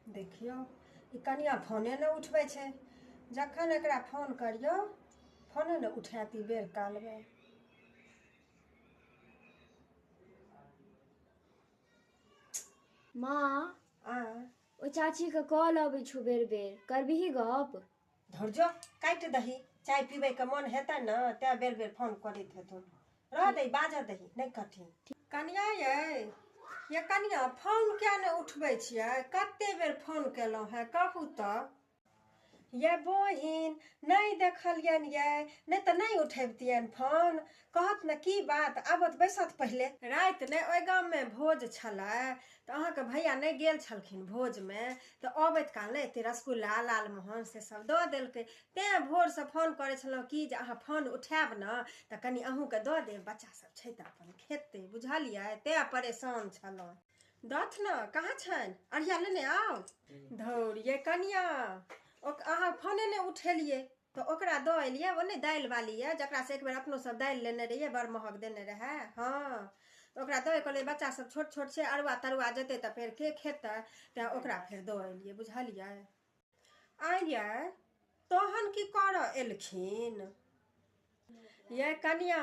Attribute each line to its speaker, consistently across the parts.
Speaker 1: देखियौ ई कनिया फोने नहि उठबै छै जखन एकरा फोन करियौ फोने नहि उठायत ई बेर कालमे माँ आ ओहि चाचीके कॉल अबै छौ बेर बेर करबिही गप धरजो काटि दही चाय पीबैके मन हेतै ने तैँ बेर बेर फोन करैत हेथुन रह दही बाजऽ दही नहि कठिन कनिया ये ये कनिया फोन किया नहि उठबै छियै कते बेर फोन केलहुँ है कहू तऽ ये बहिन नहि देखलियनि ये नहि तऽ नहि उठेबतियनि फोन कहत ने की बात आबत बैसत पहिले राति ने ओहि गाममे भोज छलै तऽ अहाँके भैया नहि गेल छलखिन भोजमे तऽ अबैत काल ने एते रसगुल्ला लालमोहन से सब दऽ देलकै तेँ भोरसँ फोन करै छलहुँ कि जे अहाँ फोन उठायब ने तऽ कनि अहूँके दऽ देब बच्चा सब छै तऽ अपन खेतै बुझलियै तेँ परेशान छलहुँ दथ ने कहाँ छनि अढ़िया लेने आउ धौरिये कनिया अहाँ फोने नहि उठेलियै तऽ ओकरा दऽ एलियै ओ नहि दालि बाली यऽ जकरासँ एक बेर अपनो सब दालि लेने रहियै बड़ महग देने रहए हँ तऽ ओकरा दऽ कहलियै बच्चा सब छोट छोट छै अरुआ तरुआ जेतै तऽ फेर के खेतै तैँ ओकरा फेर दऽ एलियै बुझलियै आइयै तहन की करऽ एलखिन ये कनिया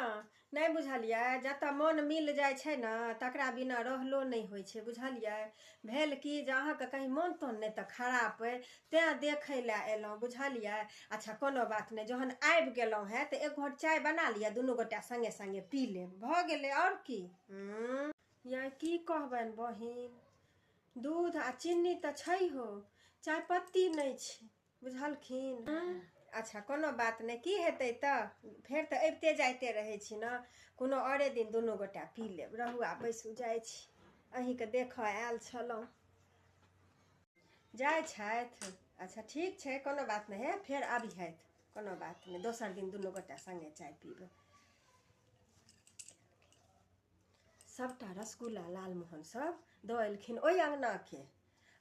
Speaker 1: नहि बुझलियै जतऽ मन मिल जाइ छै ने तकरा बिना रहलो नहि होइ छै बुझलियै भेल कि जे अहाँके कहीं मन तन नहि तऽ खराब अइ तैँ देखै लए एलहुँ बुझलियै अच्छा कोनो बात नहि जहन आबि गेलहुँ हेँ तऽ एक घोट चाय बना लिअ दुनू गोटा सङ्गे सङ्गे पी लेब भऽ गेलै आओर की हूँ या की कहबनि बहिन दूध आ चीनी तऽ छै हो चायपत्ती नहि छै बुझलखिन अच्छा कोनो बात नहि की हेतै तऽ फेर तऽ अबिते जाइते रहै छी ने कोनो औरे दिन दुनू गोटा पी लेब रहू आ बैसू जाइ छी अहीँके देखऽ आयल छलहुँ जाइ छथि अच्छा ठीक छै कोनो बात नहि हे फेर अबिहथि कोनो बात नहि दोसर दिन दुनू गोटा सङ्गे चाय पीबै सभटा रसगुल्ला लालमोहन सभ दऽ एलखिन ओहि अङ्गनाके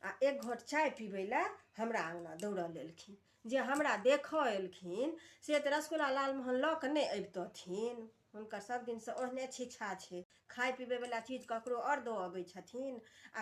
Speaker 1: आ एक घोट चाय पीबै लए हमरा अङ्गना दौड़ल एलखिन जे हमरा देखऽ एलखिन से तऽ रसगुल्ला लालमोहन लऽ कऽ नहि अबितथिन हुनकर सभ दिनसँ ओहने छिछा छै खाय पीबैवला चीज ककरो आओर दऽ अबै छथिन आ